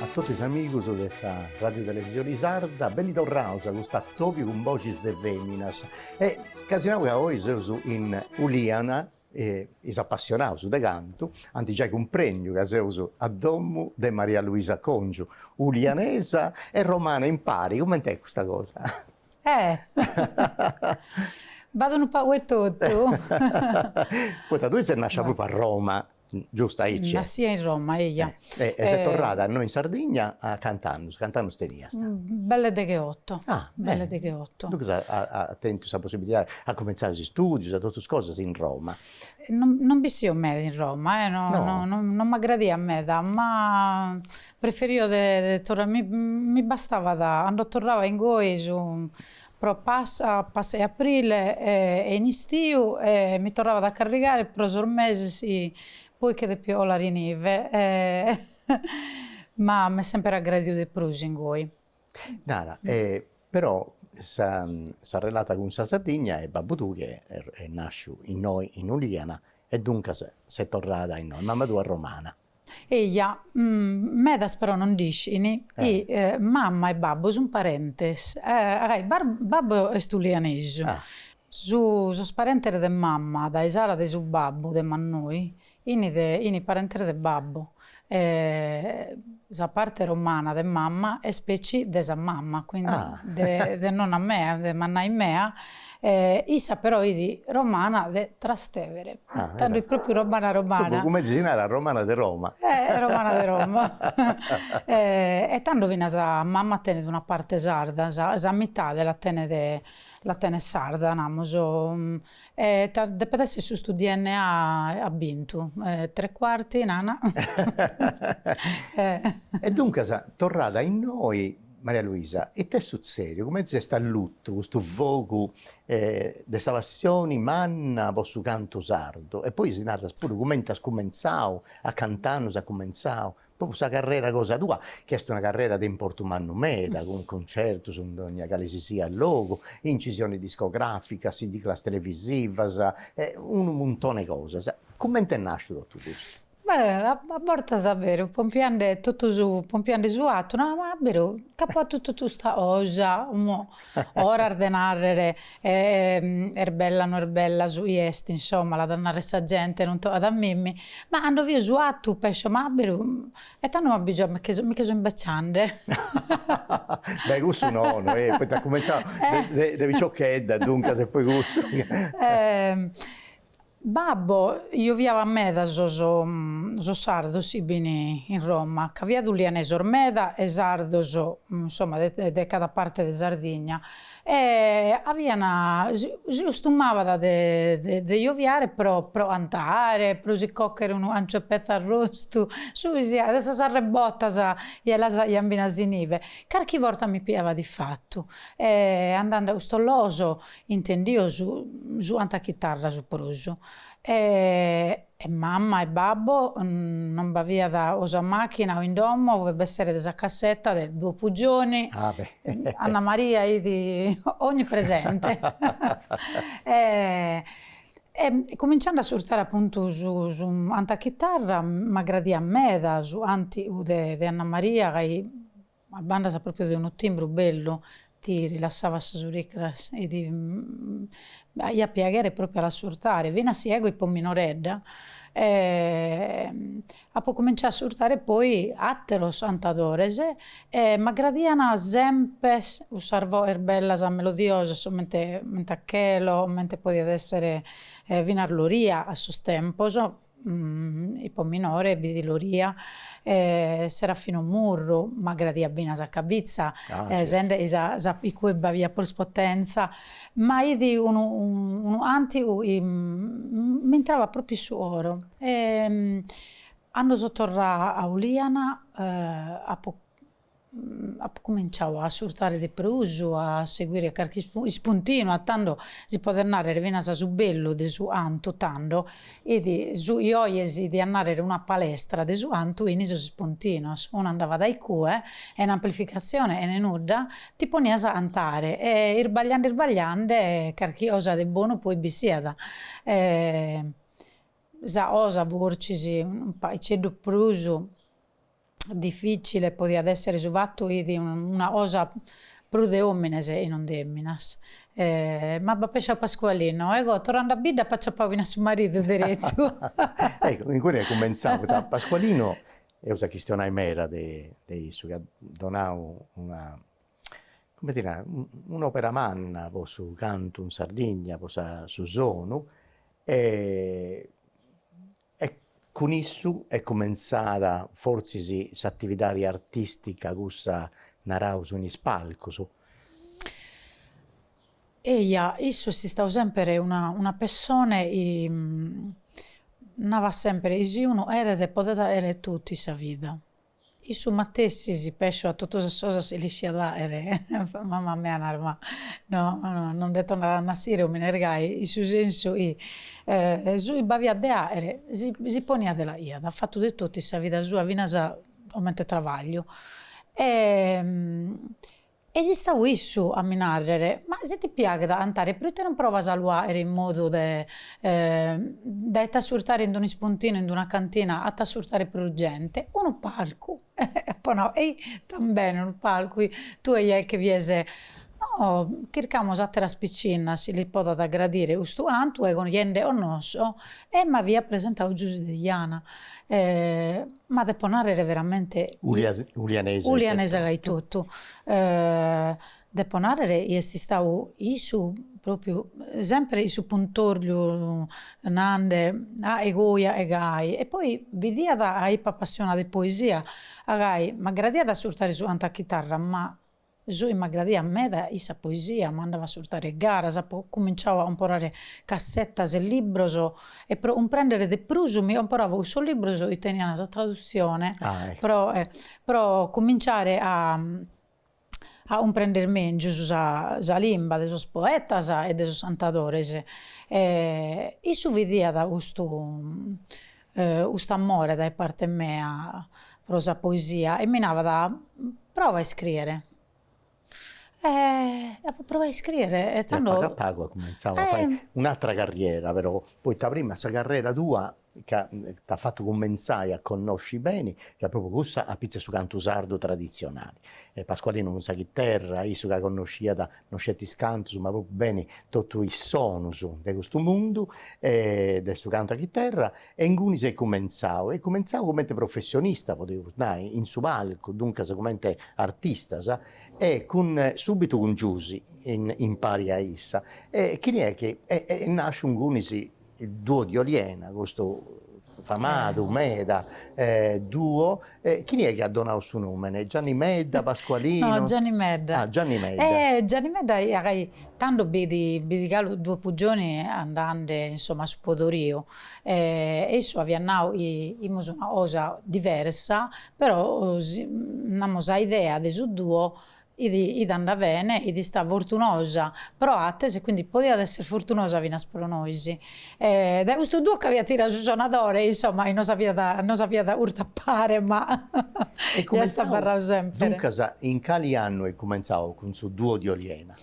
A totu is amigus de sa Radiotelevisioni Sarda, beni torraus a custu atobiu cun boxis de feminas. E ca si nau ca oi seus in Uliana Is apassionaus de cantu ant giai cumprendiu ca seus a domu de Maria Luisa Congiu, ulianesa e romana impari, cument'est custa cosa? Eh! B'at unu pagu 'e totu. Poita tui ses nascia propriu a Roma, giustu aici? Nascia in Roma, eia. E e ses torrada innoi in Sardigna a cant'annus, cant'annus teniast? Belle deghe otto. Ah belle deghe otto. Duncas as tentu sa possibilidade, as cumenzau is istudius e totu is cosas in Roma. Non non b'issio meda in Roma e no no no non m'agradiat meda, ma preferio de torrare, mi mi bastavat, cando torrava ingoi su pro Pasca, Pasca 'e Aprile e in istiu e mi torravat a carrigare pro sos meses Poi chi depio 'olare inive e ma m'est semper aggradiu de prus ingoi. Nara, e però s'arrelata cun sa Sardigna e babbu tuu chi est nàsciu innoi in Uliana e duncas ses torrada innoi, mama tua romana. Eja, medas però non nd'iscini chi mama e babbu sunt parentes, babbu est ulianesu Su sos parentes de mamma dae s'ala de su babbu de mannoi ini de ini parentes de babbu e sa parte romana de mamma est petzi de sa mamma quindi de de nonna mea de mannai mea e issa però idi romana de Trastevere tando est propriu romana romana. Duncas cumenti si narat romana de Roma. E romana de Roma e tando finas mamma tenet una parte sarda sa sa mitade la tenet La tenet sarda, namus, e depet essi custu DNA at bintu, tre cuarti nana. E duncas torrada innoi Maria Luisa, ite est sutzediu, cumenti s'est allutu custu fogu de sa passioni manna po su cantu sardu e poi si naras puru cumenti as cumentzau, a cant'annus as cumentzau? Propriu custa carrera cosa tua, chi est una carrera de importu mannu meda, cun cuncertus in dogna cale si siat logu, incisiones discogràficas, siglas televisivas, e unu muntone 'e cosas, comente est nàsciu totu custu? Beh, a bortas a beru pompiende totu su, pompiende su 'attu, nau, ma a beru, ca apo 'attu totu custa cosa, Oras de narrere est bella no est bella su chi est, insomma, l'at a narrere sa gente, non tocat a mimmi, ma cando fio su atu pescio ma aberu e tando m'abbigio mi nche so imbeciande. Beh cussu nono eh, poita at cumentzau de piciochedda e duncas e poi cussu. Babbo, joviavat meda sos sos sardos si bin in Roma ca b'iat ulianesos meda e sardos insomma de de cada parte de Sardigna e avian si si costumabat de de de joviare pro pro cantare pro si cochere unu anciu 'e petza arrostu su chi siat de sas arrebbotas e las aian finas inive carchi borta mi piavat ifatu e andende a custos logos Intendio su su antu a chitarra su prus e e mamma e babbo non b'aviat o sa machina o in domo fut b'essere de sa cassetta de Duo Puggioni, Anna Maria fit onnipresente e e cuminciende a assurtare appuntu su su antu a chitarra m'aggradiat meda su antiu de de Anna Maria ca A bandas propriu de unu timbru bellu, ti rilassavat sas uricras e ti aiat piaghere propriu a l'assurtare, finas si ego ipo minoredda apo cominciau a assurtare poi atteros antadores e m'aggradian sempre cussas voes bellas melodiosas comente a Chelo, comente podiat essere finas Loria a sos tempos, Ipo minore bi fit Loria Serafinu Murru m'agradiat finas a Cabitza sende chi a icue b'aviat prus potenza ma fit unu unu cantigu chi m'intrabat propriu su coro e cando so torrada a Uliana apo Apu cuminciau a assurtare de prus, a seguire carchi ispuntinu, a tando si podet nàrrere finas su bellu de su antu, tando, fit su chi oje si diat nàrrere una palestra de su antu in sos ispuntinos, unu andavat a icue, chene amplificatzione e ne nudda, ti ponias a antare e isbagliande isbagliande carchi osa de bonu poi bissiat e sa osa fortzis, paiceddu prus Dificile podiat essere su fattu chi fit una cosa prus de omines e non de emminas. Ma b'at pesciau Pascualino, ego torrande a bidda apo aciappau finas su maridu derettu. Ecco, incui est cumenzau, poita Pascualino, eus a chistionai meda de de issu, chi at donau una, cumenti ti nau, un'opera manna po su cantu in Sardigna, po sa su sonu e E cun issu est cumentzada fortzis s'atividadi artìstica cussa, naraus, in is palcus. Eia, issu est istau sèmpere una una pessone, navat sèmpere, si unu 'eret podet àere totu in sa vida. Issu matessi si pesciu a totu sas cosas si l'isciat àere, mama mea narat ma no no nde torrat a nassire omines gai, in su sensu chi su chi b'aviat de aere si poniat e l'aiat fatu de totu in sa vida sua finas comente trabagliu e Est istau issu a mi nàrrere, Ma si ti piaghet a antare proite non provas a lu àere in modu de de t'assurtare in un'ispuntinu, in una cantina, a t'assurtare prus gente? Unu palcu! Apo nau, Ehi, tambene unu palcu! Tue ja che fies. No, chircamus àteras picinnas, si lis podet gradire custu antu ego ja nde 'onnosso E m'aviat presentau Giusy Deiana e, ma depo narrere veramente, ulianesa gai totu, depo narrere chi est istau issu propriu sempre issu puntorliu nande àe goi àe gai e poi bidiat 'a ippo appassionada de poesia a gai m'aggradiat assurtare su antu a chitarra ma Su 'i m'agradiat meda 'it sa poesia, ma andava a surtare garas, apo cuminciau a comporare cassetas e libros e pro cumprendere de prus mi comporavo cussos libros chi teniant sa tradutzione pro pro cuminciare a a cumprender mengius sa sa limba de sos poetas e de sos cantadores e issu bidiat custu cust'amore dae parte mea pro sa poesia e mi navat, prova a iscriere e apo provau a iscriere e tando. E a pagu a pagu as cumenzau a fai un'atra carriera però, poita prima sa carrera tua ca t'at fatu cumenzai a connosci beni fiat propriu cussa a pitzus a su cantu sardu traditzionali e Pasqualino cun sa chiterra, issu ca connosciat no sceti is cantus ma propriu beni totu is sonus de custu mundu e de su cantu a chiterra e ingunis est cumentzau e cumentzau comente professionista podimus nai in su palcu duncas comente artistas e cun subitu cun Giusy impari a issa e chini est chi e est nasciu ingunis duo di Oliena custu famadu meda duo e chini est chi at donadu su nomene Gianni Medda Pasqualino no Gianni Medda ah Gianni Medda e Gianni Medda tando b'it b'it galu Duo Puggioni andande insomma a su podoriu e issu aviat nau chi imus una cosa diversa però namus sa idea de su duo 'It 'it andada bene, 'it istada fortunosa pro ateros e quindi podiat esser fortunosa finas pro nois. E dae custu duo ch'aviat tiradu su sonadore e insomma nos aviat nos aviat curtu a pare ma est abarradu semper. Duncas in cali annu est cumentzadu cun su duo di Oliena?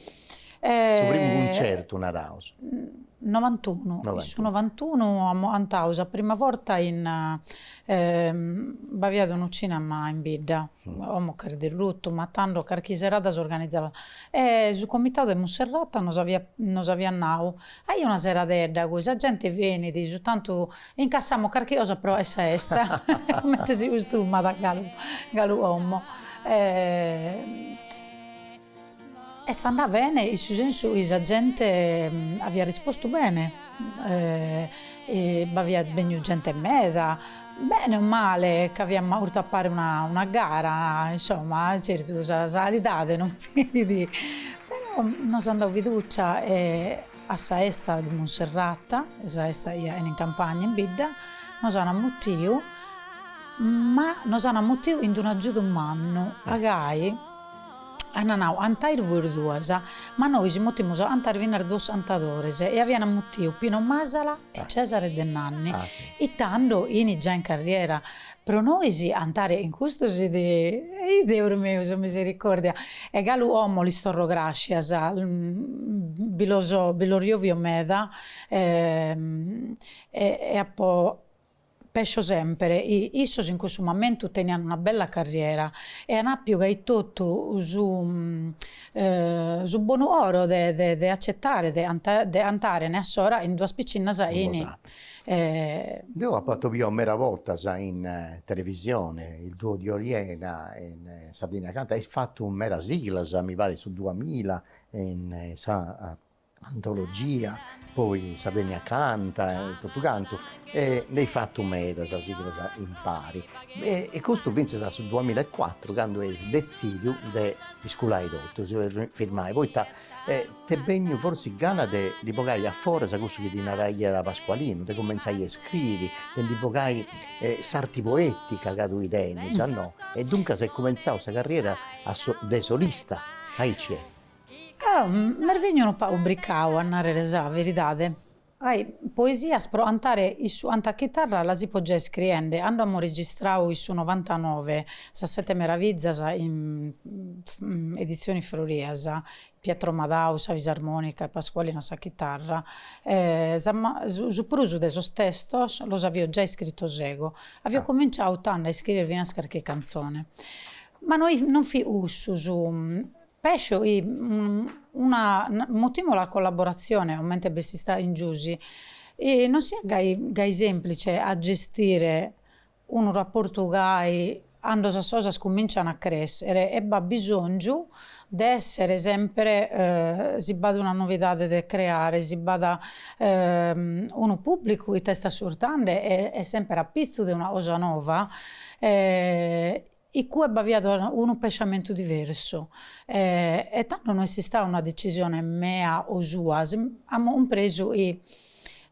Su primu cuncertu naraus. Novantunu, in su novantunu 'antaus sa prima borta in b'aviat unu cinema in bidda, como ch'est derrutu, ma tando carchi serada s'organizavat e su comitadu 'e Musserrata nos aviat nos aviat nau, aia una seradedda cui sa gente benit, su tantu incassamus carchi cosa pro sa 'esta comente si custumat galu galu como Est andada bene in su sensu chi sa gente aviat rispostu bene, b'aviat bènniu gente meda, bene o male ch'aviamus 'urtu a pare una gara, insomma certu sa calidade non fit, però nos an dadu fiducia e a sa 'esta de Monserrata, sa 'esta 'i 'a'en in campagna in bidda, nos an ammutiu, ma nos an ammutiu in d'unu agiudu mannu, a gai Ant nau, 'antais vois duas. Ma nois mutimus a 'antare finas duos 'antadores. E aviant mutiu Pino Masala e Cesare Denanni. E tando 'ini già in carriera. Pro nois 'antare 'in custos 'it. Ih Deus meu, sa misericordia. E galu 'omo lis torro grascias. Bi los 'ovio meda e apo. Pescio semper, issos in cussu mamentu tenian una bella carriera e an appiu gai totu su su bonu 'oro de de de accettare de de 'antàrene a s'ora 'in duas piccinnas in Deu appo atobiau mera bortas in televisione il duo di Oliena in Sardegna canta eis fattu mera siglas mi parit su duamila in sa antologia, poi Sardegna Canta e totu cantu e nd'eis fatu medas siglas impari e custu finzas a su duamilla e cuatru candu eis detzidiu de isculai totu, si firmai poita t'est benniu forsis gana de ndi bogai a foras cussu chi ddi naraiat Pascualinu, de cumentzai a iscriri, de ndi bogai s'arti poetica ca tui tenis no, e duncas est cumentzau sa carriera de solista, aici est Ah, m'est bènniu unu pagu ubricau, a nàrrere sa veridade. Ai, poesias pro antare issu antu a chitarra las ipo giai scriende, cando amo registrau issu novantanove, sas sete meravizas in edizioni Frorias, Pietro Madau, sa fisarmonica e Pascualinu a sa chitarra, su prus de sos testos los avio giai iscritos ego, avio cominciau tando a iscriere finas carchi canzone. Ma no fit cussu su Pesso chi una mutìmula collaboratzione comente b'est istada chin Giusi i non siat gai gai sèmplice a gestire unu raportu gai cando sas cosas cumìncian a crèschere e b'at bisòngiu de èssere sempre si b'at una novidade de creare, si b'at unu pùblicu chi t'est ascurtande e e sempre apitzu de una cosa nova Iccue b'aviat unu pensamentu diversu e tando no est istada una decisione mea o sua, amus cumpresu chi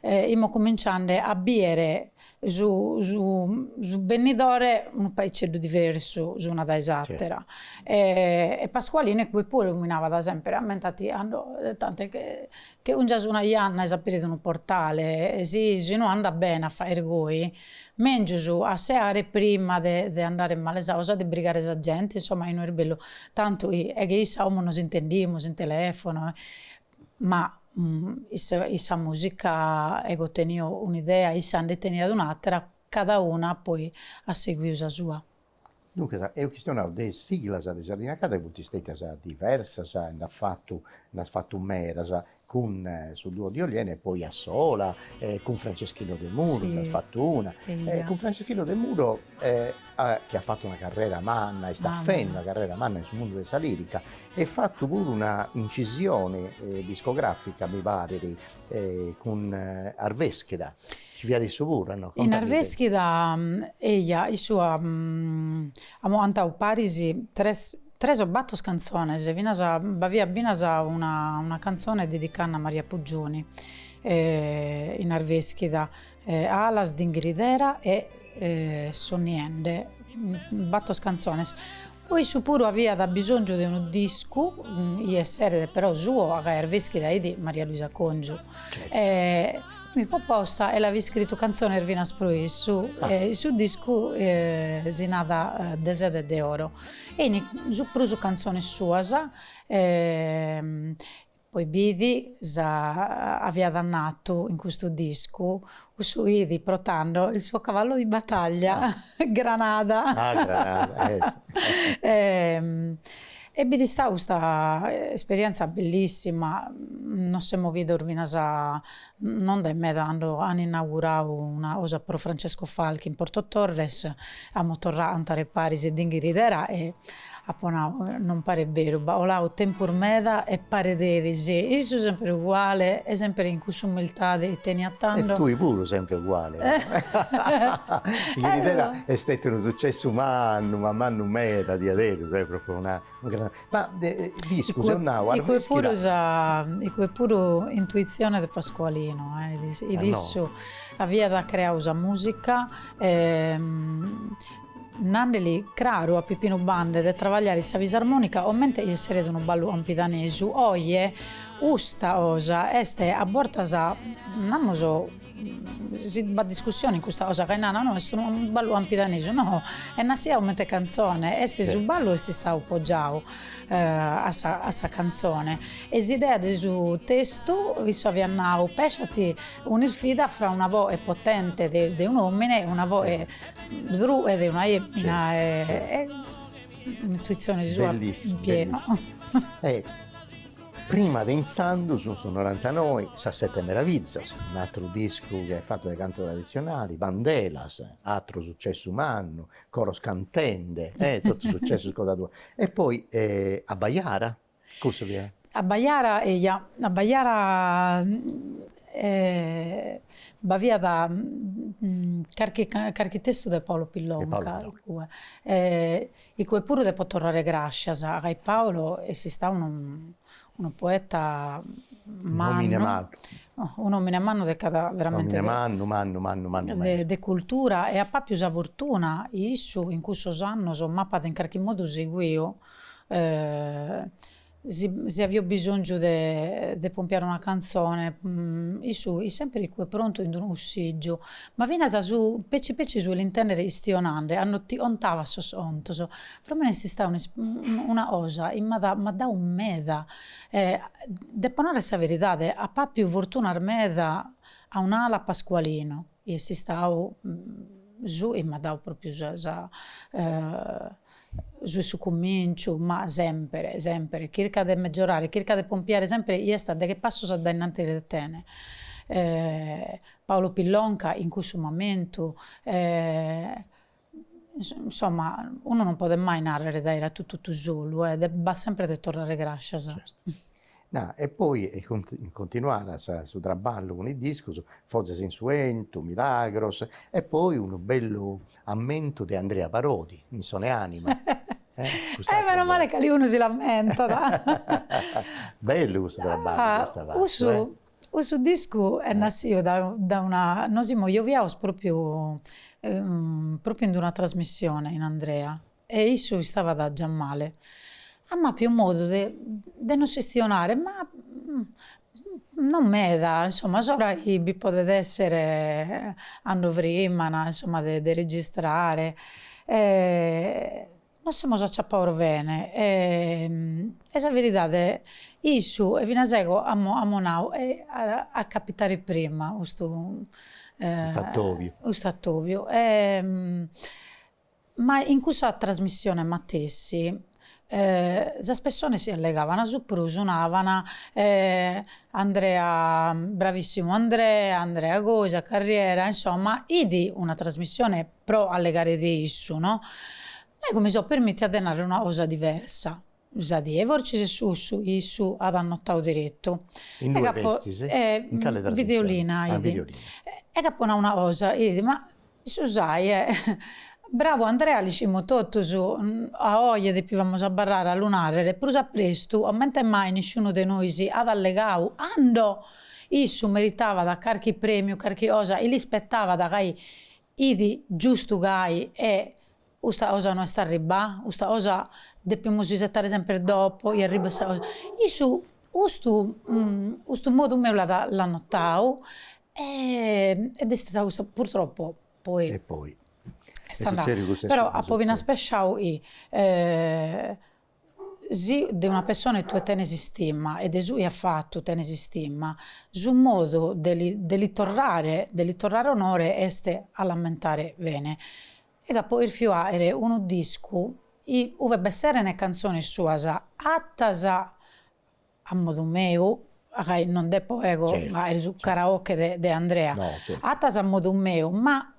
imus cominciende a biere su su su bennidore unu paiceddu diversu s'una dae s'àtera e Pascualinu poi puru lu mi navat semper ammenta·ti cando tant'e che che 'ungias una janna e s'aperit unu portale si si no andat bene a fagher goi Mèngius a seare prima de de andare in male sa cosa de brigare sa gente, insoma no est bellu tant'è che issa como nos intendimus in telefono e ma issa issa musica ego tenio un'idea issa nde teniat un'atera, cada una poi at seguiu sa sua. Duncas eus chistionau de is siglas de Sardegna Canta chi funt stetias diversas e nd'as fatu nd'as fatu medas cun su duo di Oliena e poi a sola e cun Franceschino Demuro nd'as fatu una e cun Franceschino Demuro chi at fatu una carrera manna e istat fendi una carrera manna in su mundu de sa lirica e at fatu puru una incisioni discografica mi parit cun Arveschida ci fiat issu puru no? In Arveschida eia issu amo antau paris tres tres o battos cantzones finas b'aviat finas una una cantzone dedicada a Maria Puggioni in Arveschida alas d'ingridera e sonniende battos cantzones Poi issu puru aviat bisòngiu de unu discu, chi esseret però suo ca Arveschida fit Maria Luisa Congiu e m'ipo posta e l'avio iscritu cantzones finas pro issu e su discu si narat De sede de oro e in su prus cantzones suas e Poi b'it sa aviat natu in custu discu, cussu 'it pro tando il suo cavallo di battaglia Granada e b'it istada custa esperienza bellissima, nos semo vidos finas Non dae meda cando an inaugurau una cosa pro Francesco Falchi in Porto Torres amo torrau a antare paris e Dinghiridera e apo nau, non paret beru, b'at olau tempus meda e paret eris issu semper uguale e semper in cuss'umiltade chi teniat tando. E tui puru sempre uguale. Dinghiridera est stetiu unu sucessu mannu ma mannu meda diaderus eh, pro una Ma nd'isco, seu nau, arreschida. Icue puru intuitzione de Pascualino, e issu aviat creau sa musica e nandeli craru a Pippinu Bande de travagliare in sa fisarmonica comente chi esseret unu ballu campidanesu, oje custa cosa est a bortas, namus, Si b'at discussione in custa cosa ca nana no est unu ballu campidanesu no, est nassia comente cantzone, est su ballu est istau poggiau a sa a sa cantzone e s'idea de su testu isse aviat nau, pesciat un'isfida fra una voe potente de de un'omine e una voe drue de una emina e un'intuizione sua piena Prima de intzandus, in su Norantanoi, Sas sete meravizas, un'atru discu chi est fatu de cantu traditzionali, Bandelas, atru sucessu mannu, Coros cantende, e totus sucessus cosa tua. E poi Abbajara, cussu fiat? Abbajara, eia, Abbajara b'aviat carchi carchi testu de Paolo Pillonka, igue. Icue puru depo torrare grascias ca Paolo est istau unu unu poeta mannu un'omine mannu de cada veramente mannu de cultura e apo apiu sa fortuna issu in cussos annos m'apat in carchi modu seguiu Si avio bisongiu de pompiare una canzone issu it sempre icue prontu in d'unu cussìgiu, ma finas su petzi petzi su l'intèndere istionande ando ti ontavat sos ontos. Pro mene est istada una cosa chi m'at m'at dau meda e depo narrer sa veridade apo appiu fortunas meda a un'ala a Pascualinu chi est istau su chi m'at dau propriu sa sa Su est su cumìnciu, ma semper, semper, chirca de megiorare, chirca de pompiare semper chie est a deghe passos addainanti de tene. Paolo Pillonca in cussu momentu, insomma, unu non podet mai nàrrere de aer atu totu solu, devet semper de torrare gràscias. Na, e poi continuat su traballu cun is discus Fozas in su 'entu, Milagros e poi unu bellu ammentu de Andrea Parodi in Soneanima Eh meno male chi aliunu si l'ammentat Bellu custu traballu Cussu cussu discu est nassiu da da una, nos imus gioviaos propriu propriu in d'una trasmissione in Andrea E issu istabat già male. Am'àpiu modu de de nos istionare, ma non meda, insomma, s'ora chi bi podet èssere ando frimmana, insomma, de de registrare, nos semus acciappaos bene e sa veridade, issu e finas ego amu amu nau, a capitare prima custu custu atobiu e Ma in cussa trasmissione matessi sas pessones chi allegavan su prus navan Andrea bravissimu Andrea, Andrea goi sa carriera, insomma id una trasmissione pro allegare de issu no, ego mi so permittia de narrer una cosa diversa, Sa die fortzis cussu issu at annotau deretu. Innui festis? E in cale trasmissioni? Videolina, ah, videolina. Eg' apo nau una cosa, id, ma su chi est bravu Andrea l'iscimus totus, a oje depivamus abarrare a lu narrere, prus a prestu, comente mai nisciunu de nois at allegau ando issu meritavat carchi premiu, carchi cosa, e l'ispetavat gai, id, giustu gai, e Custa cosa no est arribbaa? Custa cosa depimus isettare semper dopo e arribbat sa cosa? Issu custu custu modu meu l'at l'at notau e ed est istata custa purtroppo poi E poi est andau, però apo finas pesciau chi si de una pessona e tue tenes istima e de su chi at fatu tenes istima, su modu de li de li torrare de li torrare onore est a l'ammentare bene Ed apo erfiu aere unu discu in uve b'esseren cantzones suas attas a modu meu, gai non depo ego aere su karaoke de Andrea, attas a modu meu, ma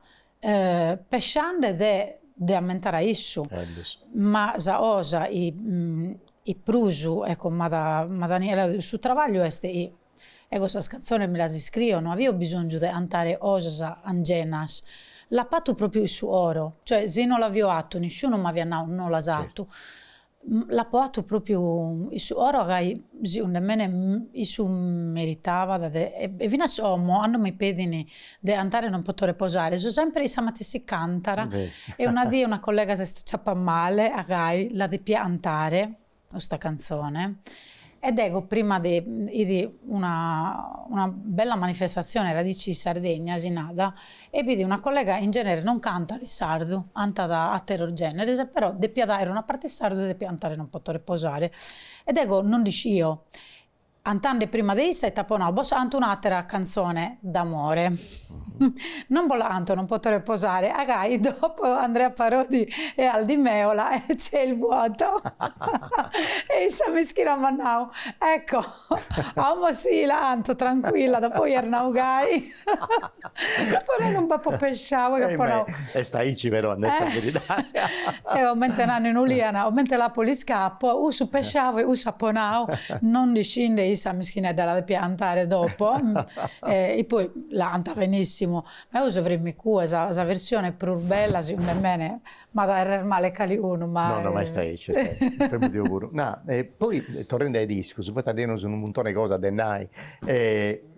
pesciande de de ammentare a issu, ma sa osa i prus ecco m'at, Daniela, su trabagliu est Ego sas cantzones mi las iscrio, no avio bisòngiu de cantare cosas angenas, l'apo fatu pròpiu in su oro, cioè si no l'avio fatu nisciunu m'aviat nau no l'as fatu, l'apo fatu pròpiu in su oro ca segundu 'e mene issu meritabat e finas como cando mi pedin de cantare non poto reposare so sempre in sa matessi cantada e una die una collega s'est acciappà male a gai la depia cantare custa cantzone e dego prima de idi una una bella manifestatzione Radici Sardegna si nada e b'idi una collega in genere non cantat in sardu antat atteros generes e però depiat aer una parte in sardu e depiat antare non poto reposare e dego non nd'iscio Antande prima de issa ita ponau bossa cantu un'atera canzone d'amore non bolla canto non poto reposare agai dopo Andrea Parodi e Aldi Meola e c'è il vuoto e issa mischina m'at nau ecco a omo si la canto tranquilla dopo iernau gai Puru non b'apo pensau e apo nau. Est aici però est sa beridadi. Eo comente nani in Uliana, comente l'apo l'iscapo, cussu pensau e cussu apo nau, non nd'iscinde issa mischinedda la depiat cantare dopo, e poi l'at cantada benissimu, ma eo so frimma cue, sa sa versione prus bella segundu e mei, m'at a errer male calicunu ma. No no ma est aici est aici, mi fermu deu puru. Na, e poi torrendi a is discus, poita teneus unu muntoni e cosa de nai, e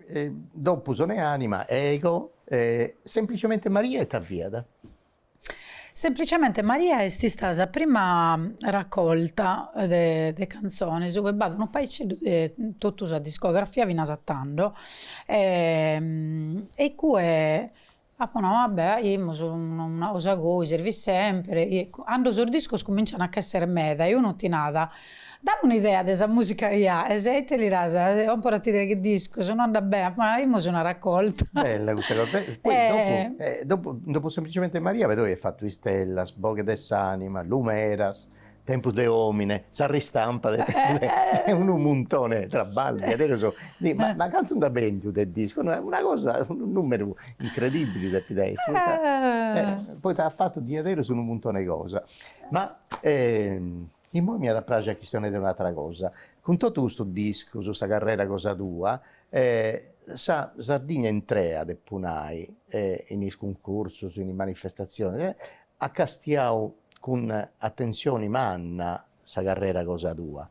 Dopu sonu e anima ego e semplicemente Maria ita fiat? Semplicemente Maria est istada sa prima raccolta de canzones ue b'at unu paiceddu de totu sa discografia finas a tando e cue Apo nau, ah beh, aimus una cosa goi, servit sèmpere. Cando sos discos cumincian a ch'èssere meda e unu ti nada, dammi un'idea de sa mùsica chi aes, e ite li das, còmporati deghe discos no andat bene, apo nau, aimus una racolta. Bella custa cosa, poi dopo, dopo, no dopo semplicemente Maria, però aiat fatu Istellas, Boghe de s'anima, Lumeras, Tempus de omine, sa ristampa de pelle est unu muntone 'e trabballu diaderus, ma cantu nd'at bèndiu de discus, una cosa, unu numeru incredibbili depit essi, poita poita at fatu diaderus unu muntone 'e cosa. Ma immoi m'iat a praxi a chistionai de un'atra cosa, cun totu custus discus, sa carrera cosa tua, sa Sardigna intrea depu nai, in is cuncursus, in is manifestazionis, At castiau cun atensioni manna sa carrera cosa tua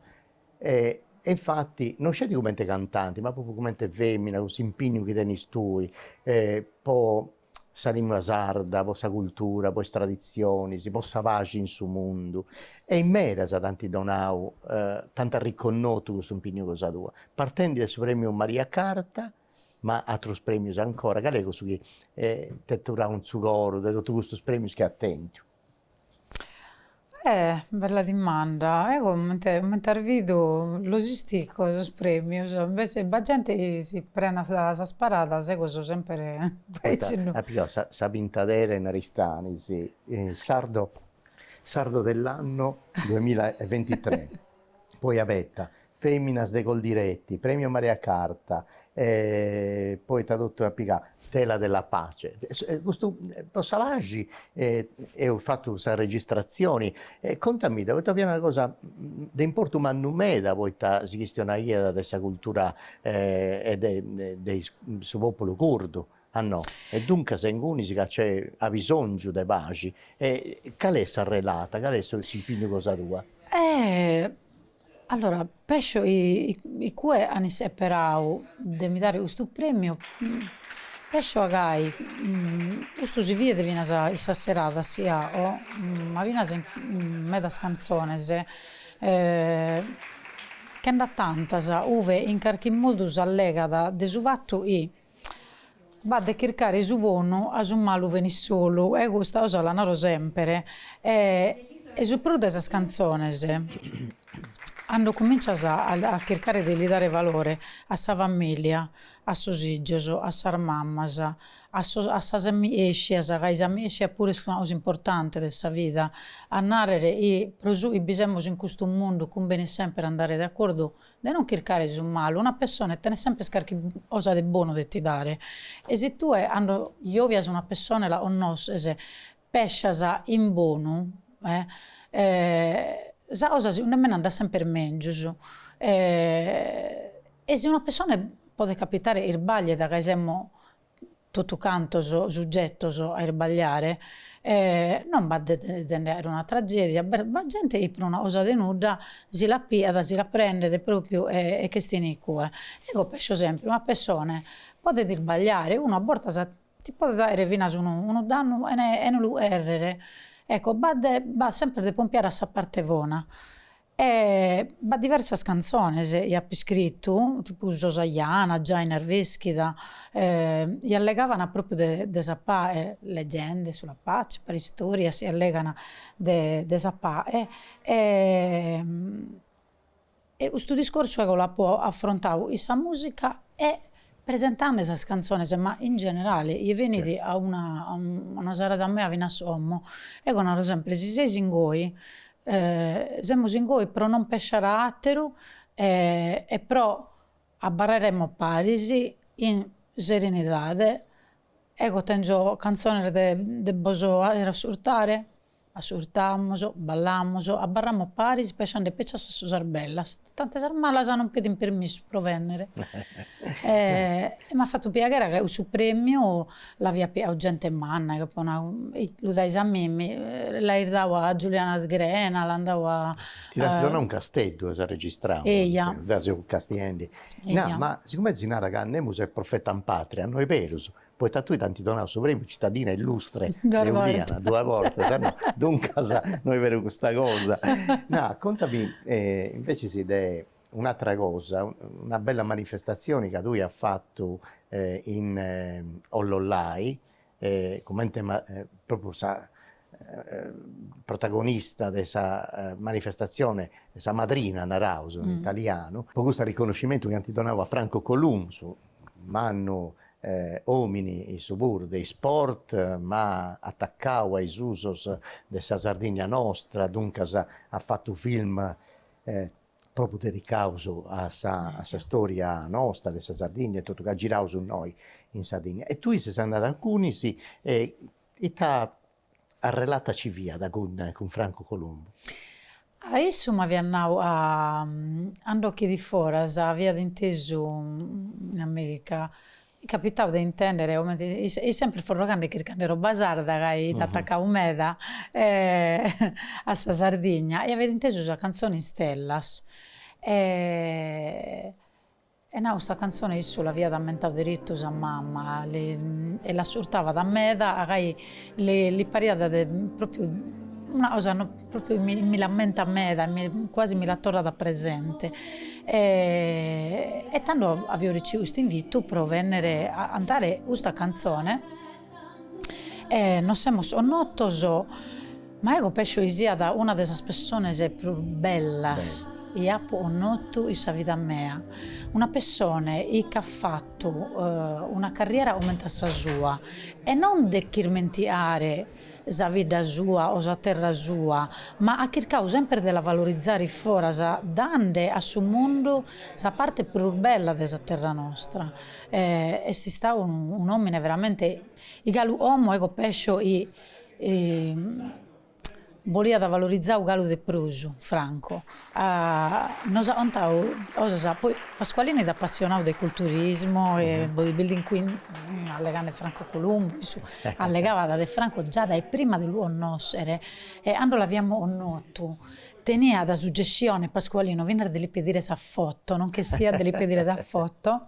e e infati no sceti cumenti cantanti ma propriu cumenti femina cun s'impignu chi tenis tui po sa lingua sarda, po sa cultura, po is tradizionis, po sa paxi in su mundu e in medas t'ant donau t'ant arreconnotu custu impignu cosa tua partendi de su premiu Maria Carta ma atrus premius ancora, cale est cussu chi t'est aturau in su coru de totu custus premius chi at tentu? Eh bella dimanda, eo comente as bidu los istico sos premius, invece b'at genti chi si prenat sas paradas, eo coso semper aici no. Apo pighau sa pintadera in Aristanis, sardo sardo dell'anno duemila e ventitre poi abeta, Feminas de Coldiretti, Premio Maria Carta, poi ita totu at pigau, Tela della pace, custu po sa paxi eus fatu sa registrazioni e contamidda, poita fiat una cosa de importu mannu meda poita si chistionaiat de sa cultura e de su populu curdu A no. E duncas ingunis ca c'è abisòngiu de paxi. E cale est s'arrelata, cale est s'impignu cosa tua? Allora, pescio i cue an isseperau de mi dare custu premiu, pescio a gai custu si fiat finas in sas seradas i ao, ma finas in medas cantzones che nd'at tantas, ue in carchi modu s'allegat de su fatu chi. B'at de chircare su bonu a su malu benit solu e custa 'osa la naro sempre e e su prus de sas cantzones cando cominzas a a chircare de li dare valore a sa familia a sos ijos a sas mammas a sos a sas amiescias ca is amiescias puru est una cosa importante de sa vida a narrer i pro su i bi semus in custu mundu cumbenit sempre andare de accordu de non chircare su malu, una pessone tenet sempes carchi osa de bonu de ti dare, e si tue cando jovias una pessone la connosches, pescias in bonu, sa cosa segunde me andat sempes mengius, e si una pessone podet capitare isbagliet ca semus totu cantos sugetos a isbagliare e non b'at de si nd'aere una tragedia, b'est b'at gente chi pro una cosa de nudda si la piat, si la prendet propriu e e ch'estinit cue. Ego pescio sempre, una pessone podet isbagliare, unu a bortas ti podet aere finas unu unu dannu e ne e no lu errere, ecco b'at de b'at sempre de pompiare a sa parte bona E b'at diversas cantzones i apo iscritu, tipu So sa Jana, giai in Arveschida, i allegavana propriu de de sa pae, leggende sulla pace, paristorias i allegan de de sa pae e custu discorsu ego l'apo affrontadu in sa musica e Presentande sas cantzones ma in generale ie benit a una a una serada mea finas como ego naro sempre si seis ingoi semus ingoi pro non pesciare a atteru e pro abbarraremus paris in serenidade ego tengio cantzones de de bos aere assurtare Assurtamus, ballamus, abarramus paris pesciande peci a sas cosas bellas, tante sas malas non pedint permissu pro vennere e m'at fattu piaghere ca cussu premiu l'aviat piau gente manna, chi apo nau, ih, lu dais a mimmi, l'ais dau a Giuliana Sgrena, l'an dau a. Ti l'ant donau in Casteddu as arregistrau. Eja. Deu seu castiendi. Eja. No, ma sigomente si narat ca nemus est profeta in patria, no est berus, poita a tui t'ant donau su premiu Citadina Illustre de Uliana duas bortas, no, duncas no est beru custa cosa. No, contami invecias de un'atera cosa, una bella manifestazioni ca tui as fatu in Ollollai, comente propriu sa protagonista de sa manifestatzione, sa madrina naraus in italianu, po custu arriconnoscimentu chi ant donau a Franco Columbu, mannu omini issu puru de isport, ma atacau a is usos de sa Sardinnia nostra, duncas at fatu film propriu dedicaus a sa a sa storia nosta de sa Sardinnia e totu, ca giraus innoi in Sardinnia. E tui ses andada a ingunis e Ita arrelata nci fiat cun Franco Columbu? Ah, issu m'aviat nau ca cando che fit foras aviat intesu in America, capitau de intendere comente fit sempre forrogande chircande roba sarda ca fit atacau meda a sa Sardigna e aviat intesu sa cantzone Istellas e E nau sta cantzone issu l'avìat ammentau derittu sa mamma e l'assurtavat meda gai li pariat propriu una cosa propriu mi l'ammentat meda quasi mi la torrat presente e tando avìo reciu cust'invitu pro bennere a cantare custa cantzone E nos semus connotos, ma ego pescio chi siat una de sas pessones prus bellas chi apo connotu in sa vida mea, una pessone chi ch'at fattu una carriera comente a sa sua e non de ch'irmenticare sa vidda sua o sa terra sua, ma at chircau sempre de la valorizare foras dande a su mundu sa parte prus bella de sa terra nostra Est istau un'omine veramente chi galu como ego pescio chi boliat valorizau galu de prus Franco nos at contau cosas poi Pasqualino fit apassionadu de culturismo e bodybuilding quindi allegande Franco Columbu issu allegabat de Franco già dae prima de lu connoschere e cando l'aviamus connotu Teniat suggessione Pascualino finas de li pedire sa foto, non ch'essiat de li pedire sa foto,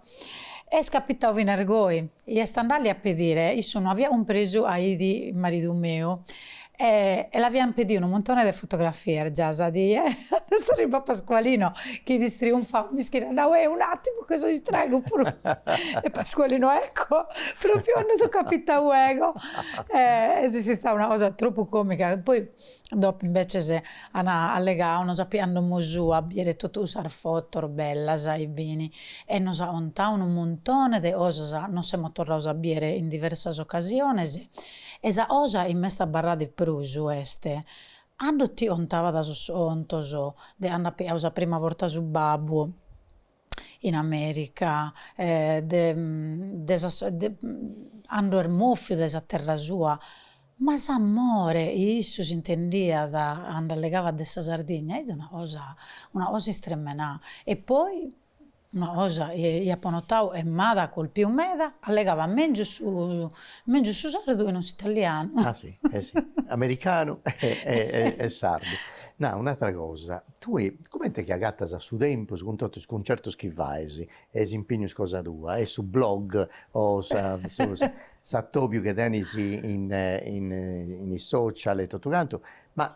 est capitau finas goi, i est andalli a pedire, issu no aviat cumpresu ca idi maridu meu e e l'aviant pediu unu muntone de fotografias già sa die, est arribau Pascualino chi idi istriunfau, mischina at nau, eh un'atimu che so istracu puru e Pascualino, ecco, propriu a nosu capitau ego e est stau una cosa tropu comica, poi Dopu imbeces an allegau nos at piau a domo sua, a biere totu sas fotos bellas e bini e nos at contau unu muntone de cosas, nos semus torraus a biere in diversas ocasiones e sa cosa chi m'est abarrada de prus est, cando ti contabat sos contos de cando at piau sa prima borta su babbu, in America de de sa cando est moffiu de sa terra sua, ma s'amore issu s'intendiat cando allegavat de sa Sardigna, est una cosa una cosa istremmenà e poi una cosa chi apo notau e m'at colpiu meda, allegavat mengius su mengius su sardu chi non s'italianu. Ah si, eh si, americanu e sardu, nau un'atra cosa Tui, comente chi agatas su tempus cun totu is cuncertus chi fais e is impignus cosa tua e su blog o sa s'atobiu chi tenis in in is social e totu cantu, ma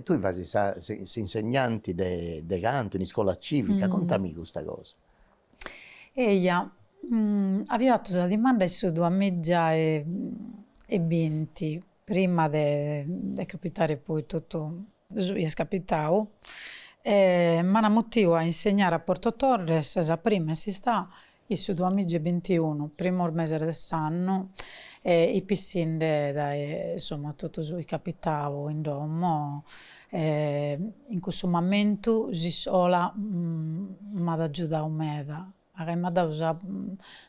tui fais sa s'insegnanti de de cantu in iscola civica, contami custa cosa. Eia, avia fatu sa dimanda in su duamìgia e binti prima de de capitare poi totu su chi est capitau e m'ana mutiu a insegnare a Porto Torres sa prima est istà in su duamìgia e bintiunu primos meses de s'annu e ipi issinde dae insomma totu su chi capitau in domo e in cussu mamentu s'iscola m'at agiudau meda. Agai m'at dau sa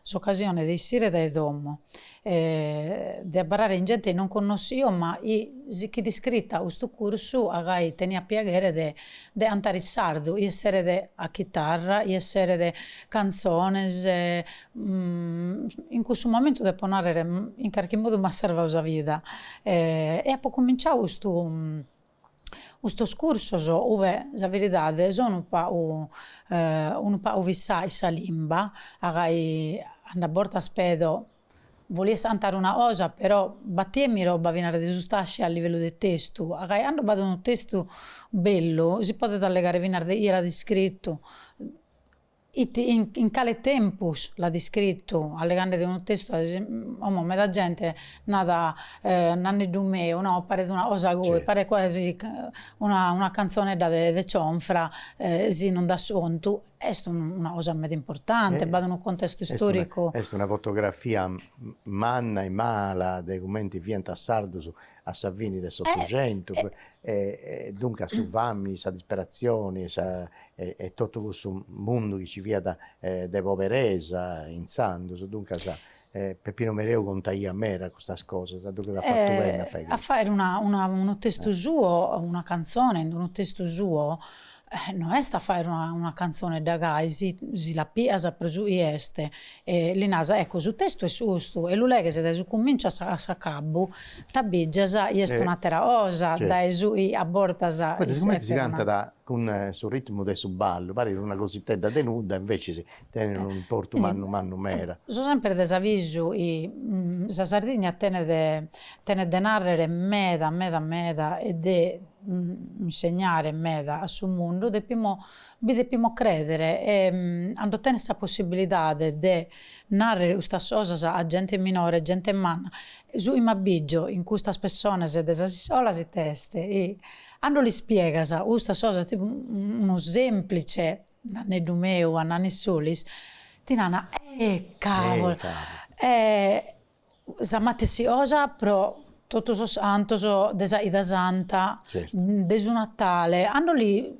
s'ocasione de issire dae domo e de abarrare chin gente chi non connossio ma chi si ch'it iscrita a custu cursu agai teniat piaghere de de cantare in sardu chi esseret a chitarra chi esseret cantzones in cussu momentu depo narrer in carchi modu m'at sarvau sa vida e apo cuminciau custu Custos cursos, ue sa beridade so unu pagu unu pagu fissà chin sa limba, agai cando a bortas pedo, bolias cantare una cosa però battiemmi roba finas de sustascia a livellu de testu, agai cando b'at unu testu bellu si podet allegare finas de chie l'at iscrittu Ite e in cale tempus l'at iscritu? Allegandet de unu testu a como meda gente nat Nanneddu meu no paret una cosa gai paret quasi una una canzonedda de de cionfra si non nd'at sontu est una cosa meda importante b'at unu contestu istoricu. Est una fotografia manna e mala de cumenti fiant sardus a sa fini de s'Otucentu e duncas su fami, sa disperatzioni e sa e totu cussu mundu chi nci fiat de poberesa intzandus, duncas Peppino Mereu contaiat meda custas cosas, duncas at fatu beni a fai unu testu suo, una cantzone in unu testu suo No est a fàere una cantzonedda gai, si si la pias pro su chi est, e li naras, ecco su testu est custu, e lu leghes dae su cumìnciu a s'acabbu, t'abbìgias chi est un'àtera cosa, dae su chi a bortas Poi sigumenti si cantat cun su ritmu de su ballu, parit una cositedda de nudda e inveciis tenit unu importu mannu mannu meda. So semper de s'avisu chi sa Sardigna tenet tenet de narrer meda meda meda e de insegnare meda a su mundu depimo bi depimo creder e ando tenes sa possibilidade de narrer custas cosas a gente minore e gente manna. Su chi m'abbìggio in custas pessonas de sas iscolas it'est chi cando lis ispiegas custas cosas tipu unu semplice Nanneddu meu a Nanni Solis ti nana eh cavolo eh sa matessi osa pro tottu sos cantos de sa 'ida santa de su Natale cando li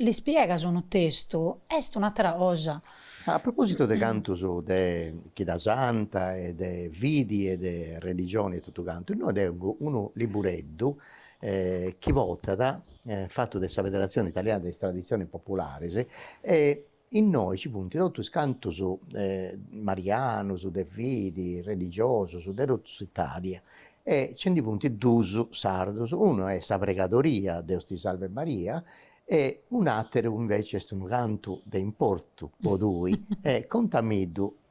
ispiegas unu testu est un'attera cosa. A propositu de cantos de chida santa e de fidi e de religioni e totu cantu innoe tengo unu libbureddu chi fut istau fatu de sa Federazione Italiana de is Tradizionis Popularis e innoi ci funt totu is cantus marianus, de fidi, religiosus de totu s'Italia e nci ndi funt duus sardus, unu est sa pregadoria Deus ti Salvet Maria e un'ateru inveci est unu cantu de importu po tui e contamiddu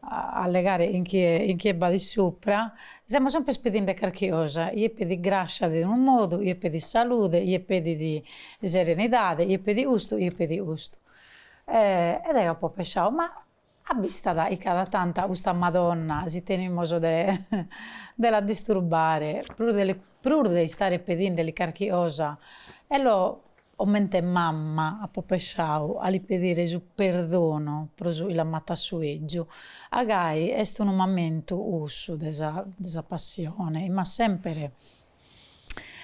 allegare in chie in chie b'at supra, semus semper pedinde carchi cosa, ie pedit grascia de unu modu, ie pedit salude, ie pedit serenidade, ie pedit custu, ie pedit custu. E deo apo pensadu, ma abbista dae chi cada tantu custa Madonna si tenimus de de la disturbare prus de prus de istare pedindeli carchi cosa, eo Comente mamma apo pesciau a li pedire su perdonu pro su chi l'am' atu a su 'igiu. Agai est unu mamentu cussu de sa de sa passione chi m'at semper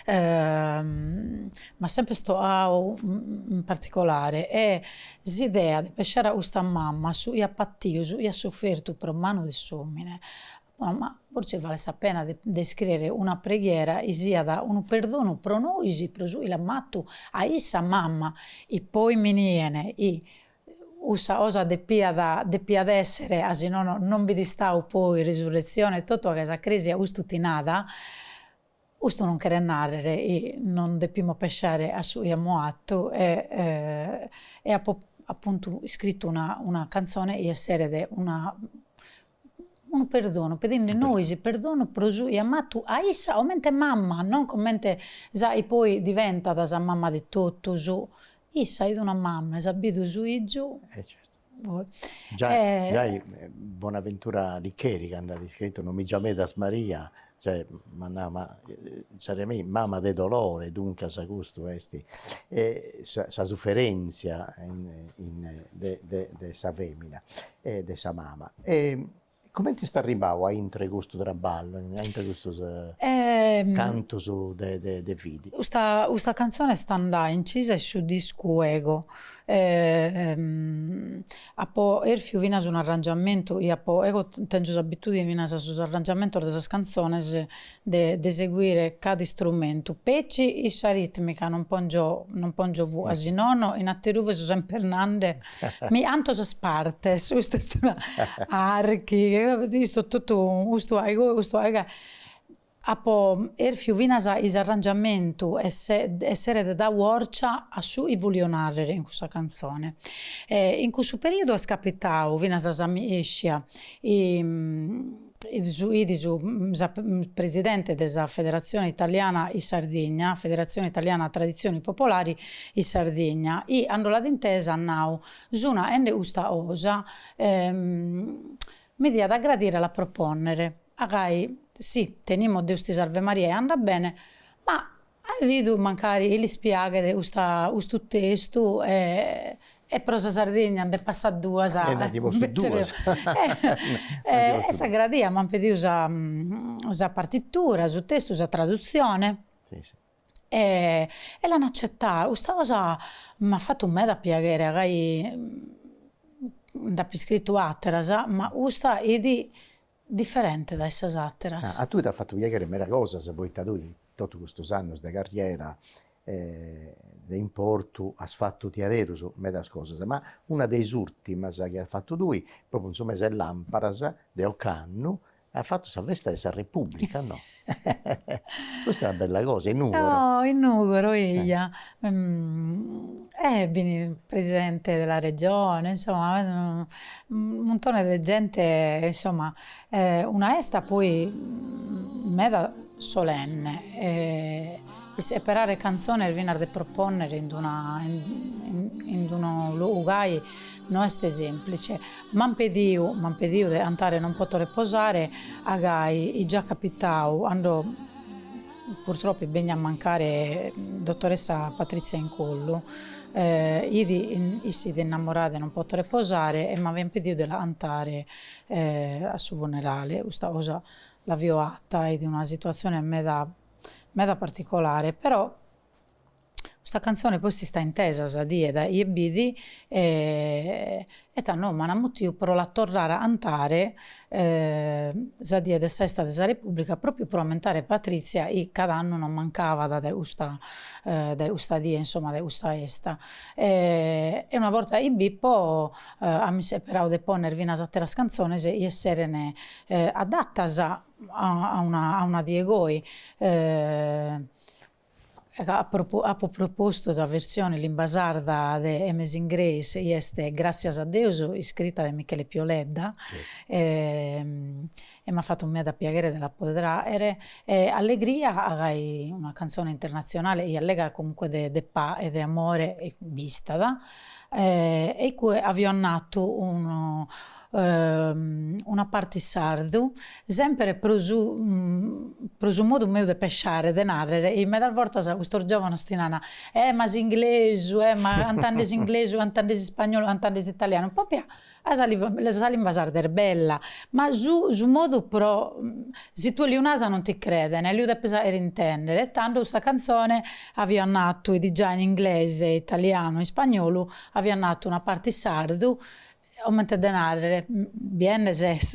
m'at semper to'au in particolare e s'idea de pesciare a custa mamma su chi at patiu, su chi at sufertu pro manu de s'omine Ma fortzis falet sa pena de iscriere una preghiera chi siat unu perdonu pro nois, pro su 'i l'am' atu a issa mamma, e poi mi nien 'i cussa cosa depiat depiat essere, a si nono non bi 'it istau poi resurretzione, totu ca sa crèsia custu ti nada, Custu non cheret nàrrere chi non depimus pesciare a su chi amus fatu e e apo apuntu iscritu una una cantzone chi esseret una unu perdonu, pedende nois perdonu pro su chi amus fatu a issa comente mama, non comente sa chi poi diventat sa mama de totus, issa 'it una mama, 'i s'at bidu su 'igiu. E certu Giai giai Bonaventura Licheri cand'at iscritu non mi giamedas Maria, cioè m'at nau ma insaras a mei mama de dolore duncas custu est sa sa suferenzia de de de sa femina e de sa mama E comente est arribau a intre custu traballu, a intre custus cantus de de fidi? Custa custa cantzone est andada incisa in su discu Ego, apo erfiu finas un'arrangiamentu chi apo, ego tengio s'abitudine finas a sos arrangiamentos de sas cantzones de seguire cada istrumentu, petzi in sa ritmica non pongio non pongio vu'a, si nono in ateruve so semper nande mi 'anto sas partes, custu est una archi, isto totu custu ai goe custu ai gae, apo erfiu finas 'i s'arrangiamentu esseret dau 'orcia a su chi volio narrer in cussa canzone, e in cussu periodu est capitau finas sa mi iscia 'it su presidente de sa Federazione Italiana in Sardigna, Federazione Italiana Traditzioni Popolari in Sardigna, e 'ando l'at intesa at nau, Sun a'ende custa cosa mi diat agradire a la proponnere, agai si tenimus Deus ti sarve Maria e andat bene, ma At bidu mancari chi lis piaghet custa custu testu e pro sa Sardigna nde passat duas est agradia m'ant pediu sa sa partitura su testu sa tradutzione e l'an acetau custa cosa m'at fatu meda piaghere agai nd'apo iscritu àteras ma custa 'it Diferente dae sas àteras. A tui t'at fatu piaghere meda cosas poita tui in totu custus annus de carriera de importu as fatu diaderus medas cosas, ma una de is ùrtimas chi as fatu tui, propriu in su mes'e làmparas de ocannu, as fatu sa festa de sa Repùblica, no? Custa è una bella cosa, in Nùgoro. In Nùgoro, eia, e b'ini presidente della Regione, insomma, muntone de gente, insomma, una 'esta poi meda solenne e isseperare cantzones finas de propònnere in d'una in d'unu logu gai No est sèmplice. M'ant pediu, m'ant pediu de antare Non poto reposare a gai, it già capitau ando purtroppo est bennia a mancare dottoressa Patrizia Incollu, iit issa it innamorada 'e Non poto reposare e m'avian pediu de la antare a su funerale. Custa cosa l'avio 'atta, est una situazione meda meda particolare però Custa cantzone poi est istà intesa sa die da ie b'it e tando m'an ammutiu pro la torrare a antare sa die de sa festa de sa Repubblica propriu pro ammentare Patrizia chi cad'annu non mancavat dae custa dae custa die insomma dae custa festa e una borta chi b'ippo amus isseperau de ponner finas atteras cantzones chi esseren adattas a una die goi Apo propostu sa versione in limba sarda de Amazing Grace, chi est Gràtzias a Deus iscrita de Michele Pio Ledda e m'at fatu meda piaghere de la poder aer e allegria gai una cantzone internatzionale chi allegat comunque de pa'e e de amore b'istat e iccue avio annatu unu una parte in sardu, semper pro su pro su modu meu de pesciare, de narrer, e medas bortas custos giovanos ti nana, eh ma s'inglesu, eh ma cantande s'inglesu, cantande s'ispagnolu, cantande s'italianu, propriu sa sa limba sarda est bella, ma su su modu però, si tue liu nas non ti creden, liu depes aer intender, e tando custa canzone aviat natu, 'idi già in inglese, italianu e ispagnolu, avio annatu una parte in sardu, Comente de narrere, biende ses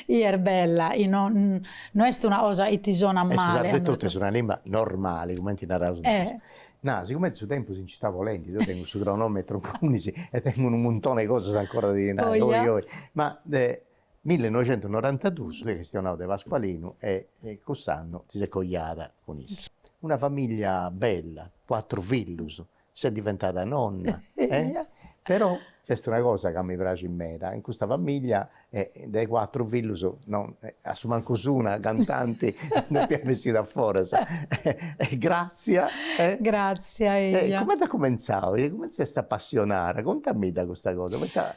'i est bella, no est una cosa chi ti sonat male. Est su sardetu est una limba normale, comente naraus nois. Na, sigumenti su tempus si nci istat bolende, deu tengu su cronometru in cuìndixi e tengu unu muntone 'e cosas ancora de ti nai, oi oi, ma de millenoixentunorantadus eus chistionau de Pascualinu e cuss'annu ti ses coiada cun issu. Una familia bella, cuatru fillus, Ses diventada nonna e però nc'est una cosa ca mi praxit meda, in custa familia de is cuatru fillus no a su mancus una cantanti depiat bessiri a foras e Grazia e Grazia eia. E cumenti at cumentzau, cumenti s'est apassionada, contamidda custa cosa, poita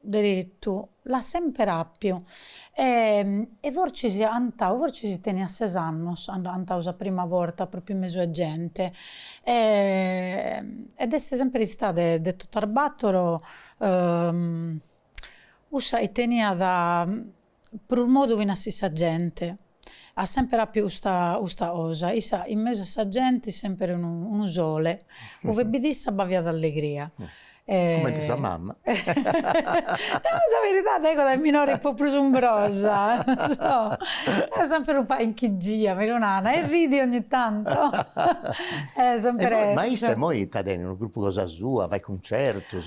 deretu, l'at semper àpiu e e fortzis cantau fortzis teniat ses annos at cantau sa prima borta pròpriu in mesu 'e gente ed est semper istada de de totu a battor cussa chi teniat Prus modu finas chin sa gente at semper appiu custa custa cosa, issa in mesu a sa genti semper unu unu sole, ue b'it issa b'aviat allegria. Cumenti sa mama. Nau sa beridade ego dae minore fipo prus umbrosa, non so, eo semper un pagu inchigia mi lu nana e ridi ogni tanto e semper. Ma issa immoi ita tenit unu gruppu cosa sua, fait cuncertus,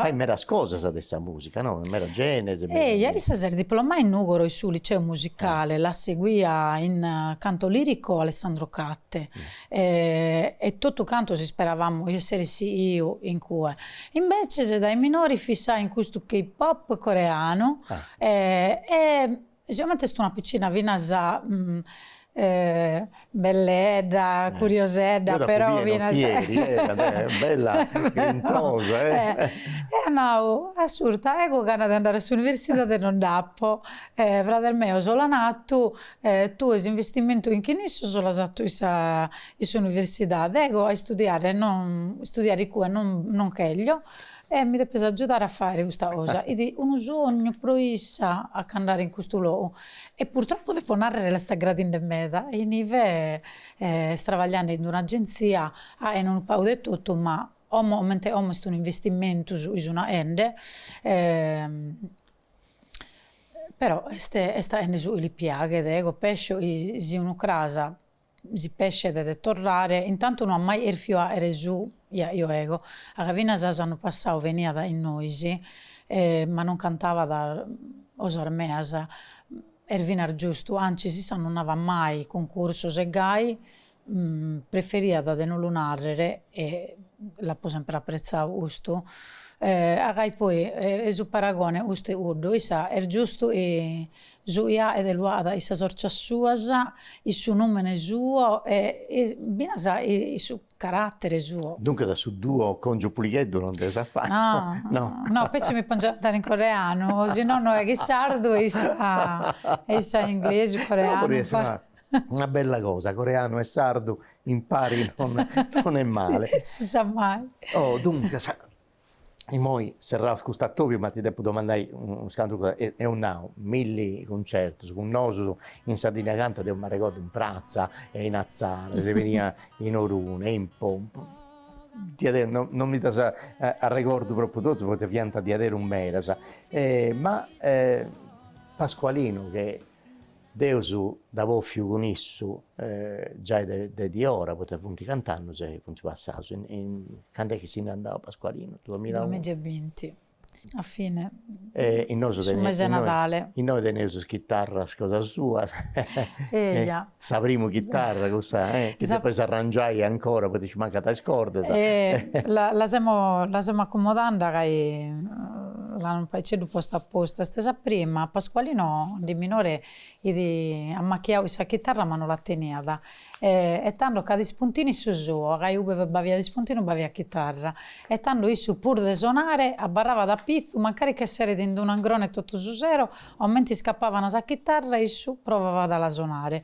fait medas cosas de sa musica musica no? In meda gènere. Eia, issa s'est diplomada in Nùgoro in su Liceu Musicale, la seguia in canto lirico Alessandro Catte e totu cantos isperavamo chi esseret sighiu in cue. Imbeces dae minore fissà chin custu K-pop coreanu e E sigomente est una piccina finas belledda, curiosedda, però finas bella grintosa e at nau, ascurta, ego gana de andare a s'universidade non nd'apo, frades meos l'an atu, tue s'investimentu in chin issos l'as atu in sa in s'universidade, ego a istudiare non istudiare in cue non non cheglio E mi depes agiudare a faere custa cosa, it unu sognu pro issa a ch'andare in custu logu e purtroppo depo narrere l'est aggradinde meda inive est trabagliande in un'agenzia aen unu pagu de totu ma como comente como est un'investimentu su chi sun aende però est est aende su chi li piaghet ego pescio chi si unu cras si pescet de torrare, intantu no at mai cherfiu aere su chi aio ego, a ca finas s'annu passau veniat chin nois, ma non cantabat cosas meas, est finas giustu, antzis issa non avat mai cuncursos e gai preferiat de no lu narrere e l'apo sempre appretzau custu, a ca poi est su paragone custu e cuddu, issa est giustu Su iaede lu at in sas orcias suas, in su numene suo e finas in su carattere suo. Duncas a su duo Congiu Puligheddu non deus a fai. No, no, petzi mi pongiu a cantare in coreanu, o si no no eo in sardu e issa e inglesu, coreanu. Una bella cosa, coreanu e sardu impari non est male. Si sa mai. Oh, duncas, Immoi serraus cust'atobiu ma ti depu domandai unu scantu cosa, apu nau, milli cuncertus, cun nosu in Sardigna cantat, deu m'arregordu in pratza e in Atzara, si beniat in Orune e in Pompu, diaderus no no mi ddas arregordu propriu totus poita fiant diaderus medas, ma Pascualinu che Deus dd'apu bòfiu cun issu giai de diora, poita funt cant'annus chi funt passaus, cand'est chi si nd'est andau Pascualinu, duamilla e binti? Duamigi e binti, a fine, su mesi 'e nadale. Innoi teneus is chitarras cosas suas, sa primu chitarra cussa chi depeis arrangiai ancora poita nci mancant is cordas. La semus acomodande ca L'amus unu pagheddu postu a postu. Est sa prima. Pascualino de minore it ammachiau 'e sa chitarra ma no la teniat e tando chit ispuntinu su suo, ca ube b'aviat ispuntinu b'aviat chitarra e tando issu puru de sonare abarrabat a pitzu mancari ch'esseret in d'unu angrone totu su sero, omenti iscapavan sa chitarra issu provavat a la sonare.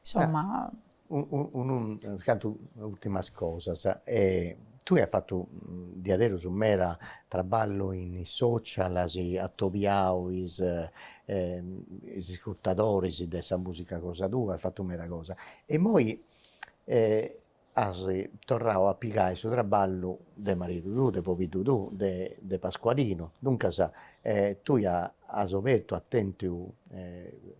Insomma. Unas cantu ultimas cosas, tue as fattu diaderus meda traballu in is social, as atobiau is is iscurtadoris de sa musica cosa tua, as fattu meda cosa, e immoi as torrau a pigai su traballu de maridu tuu, de pobiddu tuu, de Pascualinu, duncas tui as obertu, as tentiu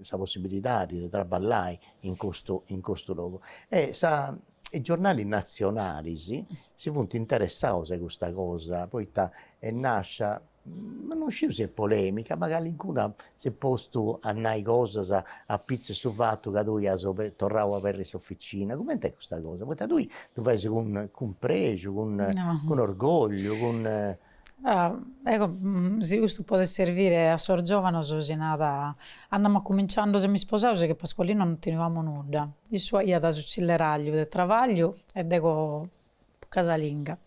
sa possibilidadi de traballai in custu in custu logu. Etza is giornalis nazionalis si funt interessaus a custa cosa, poita est nascia Ma non sciu si est polemica, ma calincunu s'est postu a nai cosas apitzus 'e su fatu ca tui as torrau a aberri s'officina, coment'est custa cosa, poita tui ddu fais cun cun prexu, cun cun orgogliu, cun ecco si custu podet servire a sos giovanos si nat, ando amus cumintzau semus isposaos chin Pasqualino non teniamus nudda, issu aiat su cilleralliu de travagliu e dego casalinga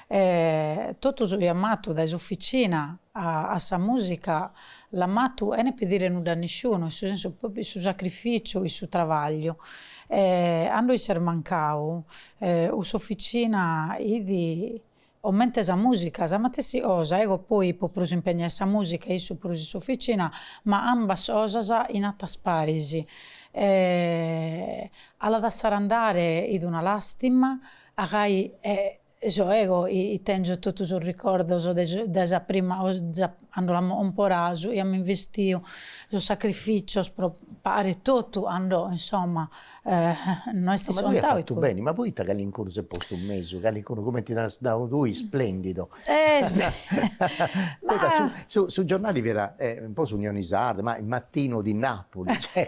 e totu su chi am'atu dae s'ufficina a sa musica l'am'atu chene pidire nudda a nisciunu in su sensu propriu su sacrificiu in su travagliu e cando iss'est mancau s'ufficina idi comente sa musica sa matessi cosa ego poi ipo prus impegnà in sa musica e issu prus in s'ufficina ma ambas cosas in atas paris e A la dassare andare it una lastima, a gai e so ego bi tengio totu sos ricordos de dae sa prima cando l'ammò comporadu e ammò investiu sos sacrificios pro pagare totu andò insomma no est scontadu. Ma tue as fatu beni, ma poita calincunu s'est postu in mesu, calincunu cumenti as nau tui splendido, Poita su su su giornali fiat un po s'Unioni Sarda, ma il mattino di Napoli cioè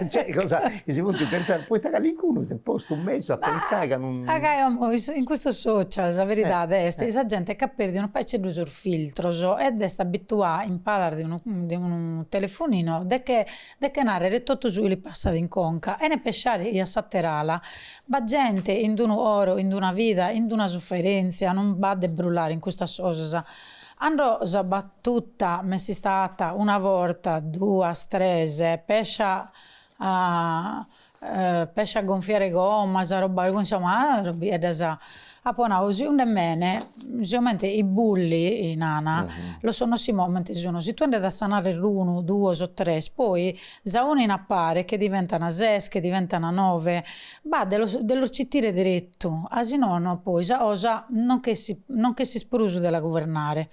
cioè cosa chi si funt pentzada, poita calincunu s'est postu in mesu a pentzai ca non. Ma gai oi is in custos social sa veridade est chi sa gente est chi at perdiu unu paiceddu sos filtros ed est abituada in palas de unu de unu telefonino de che de che narrere totu su chi li passat in conca chene pesciare chi a s'ater'ala. B'at gente chin d'unu coro, chin d'una vida, chin d'una suferenzia, non b'at de brullare in custas cosas. Cando sa battuta m'est istà atta una borta, duas, tres, pescia a pescia a gonfiare gommas arrobba algu insomma arrobbieddas apo nau si und'est mene sicomente i bulli nana los si momente si unu si tue nde dassas narrer unu duos o tres poi s'aunin a pare che diventan ses che diventan nove bah de los de los citire derettu a si nono poi sa cosa non ch'essit non ch'essit prus de la guvernare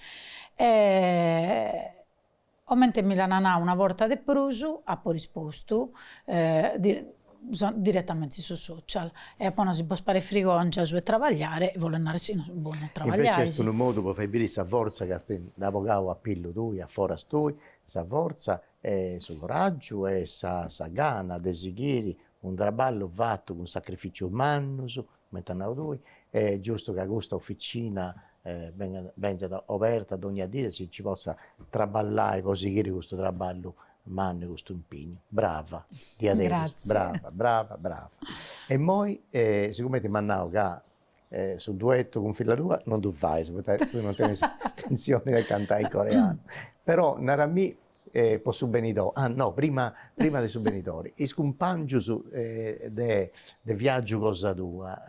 Comente mi l'ana nau una borta de prus, apo rispostu diretamente in su social e apo nau, si bos paret frigòngia su 'e trabagliare, bolet nare si no bos non trabagliais. Invece est unu modu pro fai biri sa fortza chi nd'as bogau a pillu tui, a foras tui, sa fortza e su coraggiu e sa gana de sighiri unu traballu fatu cun sacrificios mannus, comente as nadu tui, est giustu ca custa officina bengat benzat oberta dogna dì e si nci potzat traballai po sighiri custu traballu mannu e custu impignu. Brava, diaderus, brava, brava, brava. E immoi sigumenti m'as nau ca su duettu cun filla tua non ddu fais poita tui non tenis intentzioni de cantai in coreanu, però narami E po su benidori, ah no, prima prima de su benidori, is cumpangius de de viaggiu cosa tua,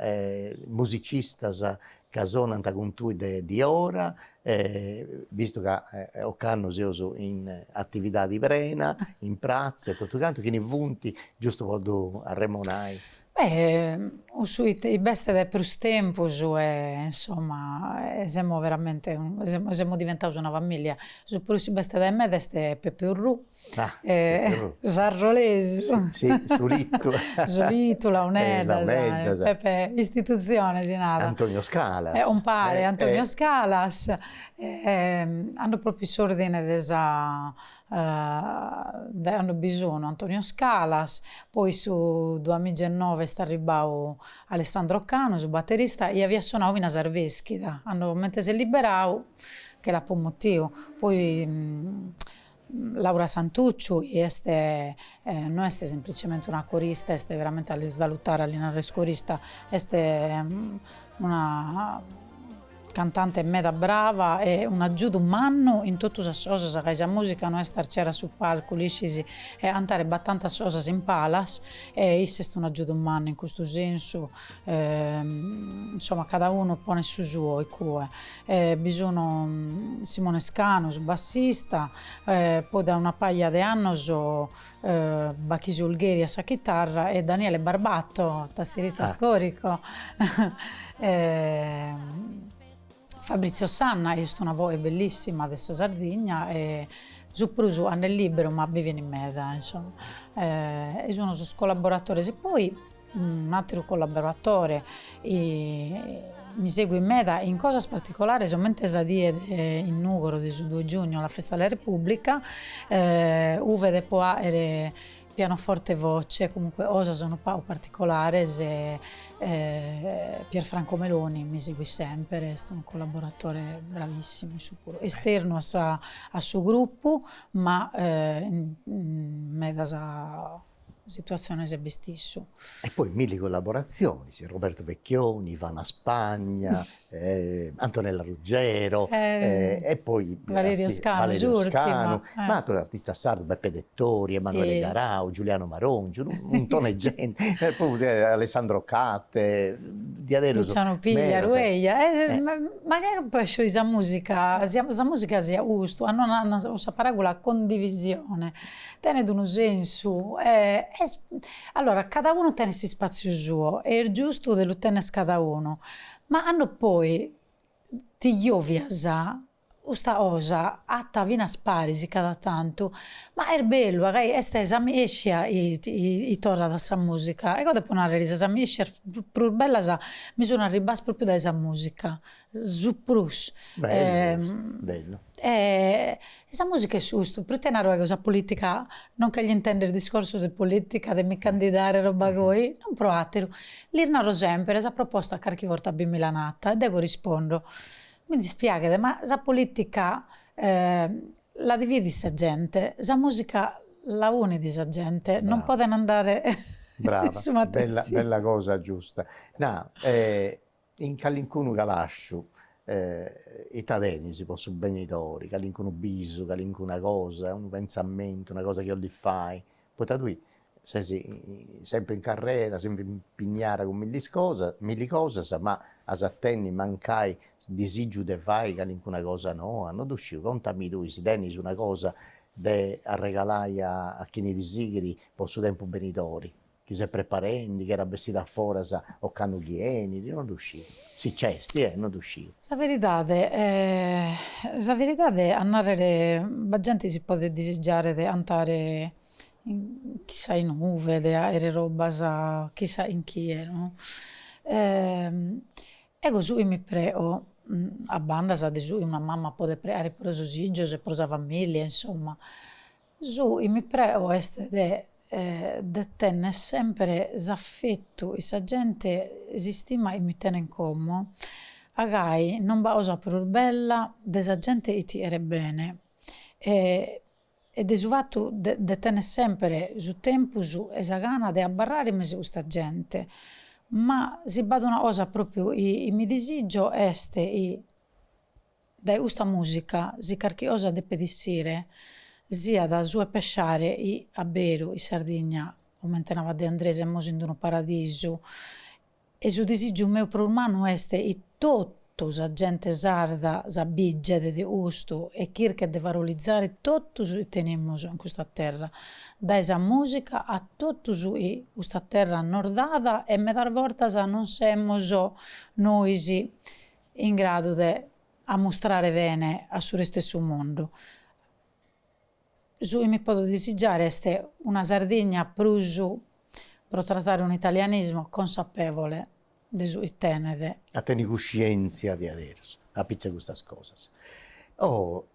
musicistas ca sonant cun tui de diora, vistu ca ocannu seus in atividadi prena, in pratza e totu cantu, chini funt, giustu po ddu arremonai? cussu chi b'est de prus tempus e insomma e semus veramente semus semus diventados una familia, su prus chi b'est dae meda est Peppe Urrù est arrolesu sulitu launeddas Peppe istituzione si narat Antonio Scalas e umpare Antonio Scalas e ando propriu in s'ordine de sa cando bi sunu Antonio Scalas, poi su duamigia e nove est arribbau Alessandro Canu su batterista chi aviat sonau finas a Arveschida, cando comente s'est liberau che l'apu mutiu, poi Laura Santucciu chi est no est semplicemente una corista est veramente a l'isvalutare a li narrer chi est corista est una Cantante meda brava e un'agiudu mannu in totu sas cosas ca sa musica no est arciare a su palcu l'iscis e cantare b'at tantas cosas in palas e issa est un'agiudu mannu in custu sensu insomma cada unu ponet su suo iccue e bi sun Simone Scanu su bassista poi dae una pagia de annos Bachis Ulgheri a sa chitarra e Daniele Barbato, tastierista storico e Fabrizio Sanna chi est una voche bellissima de sa Sardigna e su prus cando est liberu ma bi venit meda insomma e sun sos collaboratores e poi Un'àteru collaboratore mi seguit meda in cosas particolares, comente sa die de in Nùgoro de su due giugno, la festa della Repubblica, uve depo àere pianoforte e voce, comunque cosas unu pagu particolares, Pierfranco Meloni mi seguit semper, est unu collaboratore bravissimu, issu puru, esternu a su gruppu ma medas situatziones b'est issu. E poi milli collaboratzionis, Roberto Vecchioni, Ivana Spagna, Antonella Ruggero e poi Valerio Scanu s'urtima, ma atrus artistas sardus, Beppe Dettori, Emanuele Garau, Giuliano Marongiu, unu muntone 'e genti, Alessandro Catte, diaderus medas. Luciano Pigliaru, eja, mancai po scioiri sa musica, sa musica siat custu, cando sa paragula condivisione Tenet unu sensu e est, allora cada unu tenet s'ispatziu suo e est giustu de lu tenner cada unu, ma cando poi ti ovias custa cosa atta finas paris cada tantu, ma est bellu ca est s'amiescia chi torrat a sa musica, eo depo narrer chi sas amiescias prus bellas mi sun arribbadas propriu dae sa musica Su prus bellu 'e sa musica est custu, proite naro ego sa politica, non cheglio intender discorsos de politica de mi candidare roba goi, non pro ateru, lis naro sempre sa proposta carchi borta bi mi l'an atta e dego rispondo, mi dispiaghet ma sa politica la dividit sa gente, sa musica la unit sa gente, non poden andare in su matessi. Brava, bella cosa giusta, na In calincunu calasciu ita tenis po su benidori, calincunu bisu, calincuna cosa, unu pentzamentu, una cosa chi 'olis fai, poita tui ses sempri in carrera, sempri impignada cun milli cosas, ma as a tenni mancai disìgiu de fai calincuna cosa noa, no dhu sciu, contami tui si tenis una cosa de arregalai a chini ti sighit po su tempus benidori chi ses preparendi, chi at a bessiri a foras o candu chi enit, no ddu sciu. Si nc'esti, eh, no ddu sciu. Sa veridade a narrere b'at genti si podet disigiare de antare in chissà inue, de aere robbas chissà chin chie, no. Ego su chi mi preo, a bandas de su chi una mamma podet preare pro sos fizos e pro sa familia, insomma, Su chi mi preo est de de tenner sempre s'affettu 'e sa gente s'istima chi mi tenen como a gai non b'at cosa prus bella de sa gente chi ti cheret bene e de su fattu de tenner sempre su tempus e sa gana de abbarrare in mesu 'e custa gente, ma si b'at una cosa propriu chi mi disizio est chi Dae custa mùsica, si carchi cosa depet issire, siat su 'e pessare chi a beru in Sardigna, comente narat De Andrè, semus in unu paradisu e su disìgiu meu prus mannu est chi totu sa gente sarda s'abìget de custu e chirchet de valorizzare totu su chi tenemus in custa terra, dae sa mùsica a totu su chi custa terra nos dat e medas bortas non semus nois in gradu de ammustrare bene a su restu 'e su mundu. Su chi mi podo disigiare est una Sardigna prus, pro trattare un italianismo, consapevole de su chi tenet. A tenni cuscientzia diaderus, apitzus 'e custas cosas. Oh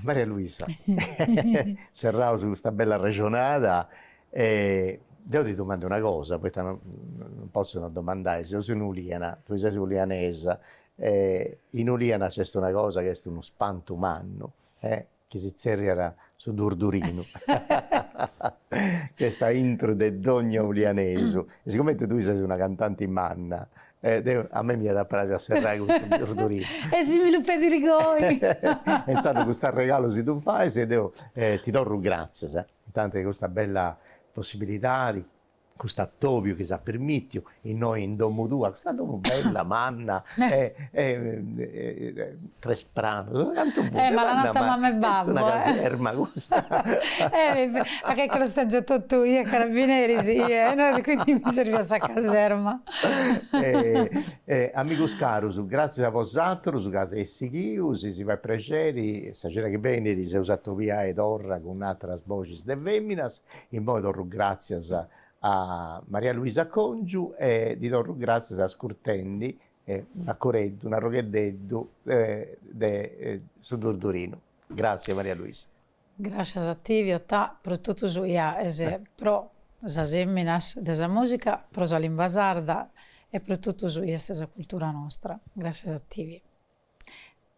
Maria Luisa, serraus custa bella arrexonada, E deo ti domando una cosa, poita no non potzo non domandai, seus in Uliana, tui ses ulianesa, e in Uliana nc'est una cosa chi est unu spantu mannu e chi si tzerriat su durdurinu chi est aintru de dogna ulianesu, e sigumenti tui ses una cantanti manna e deu a mei m'iat a praxi a serrai cun custu durdurinu E si mi lu pedis goi e intzandus custu arregalu si ddu fais e deu ti torru gràtzias Intanti de custa bella possibilidadi, custu atobiu chi s'at permitiu innoi in domu tua, custa domu bella, manna e e tres pranus, cantu fut, manna manna, est una caserma custa. A Checchela sta già totu i' e carabineris e quindi mi serviat sa caserma. Amigus carus, gratzias a bosatrus ca s'eis sighius, si fait prexeri. Sa cena chi benit s'eus a atobiai torra cun atras boxis de feminas, immoi torru gratzias a Maria Luisa Congiu e ddi torru gratzias ascurtendi una coreddu, un'arrogheddeddu de su Durdurinu. Gratzias Maria Luisa. Gràscias a tivi Otà pro totu su chi aes pro sas feminas de sa musica, pro sa limba sarda e pro totu su chi est sa cultura nostra. Gràscias a tivi.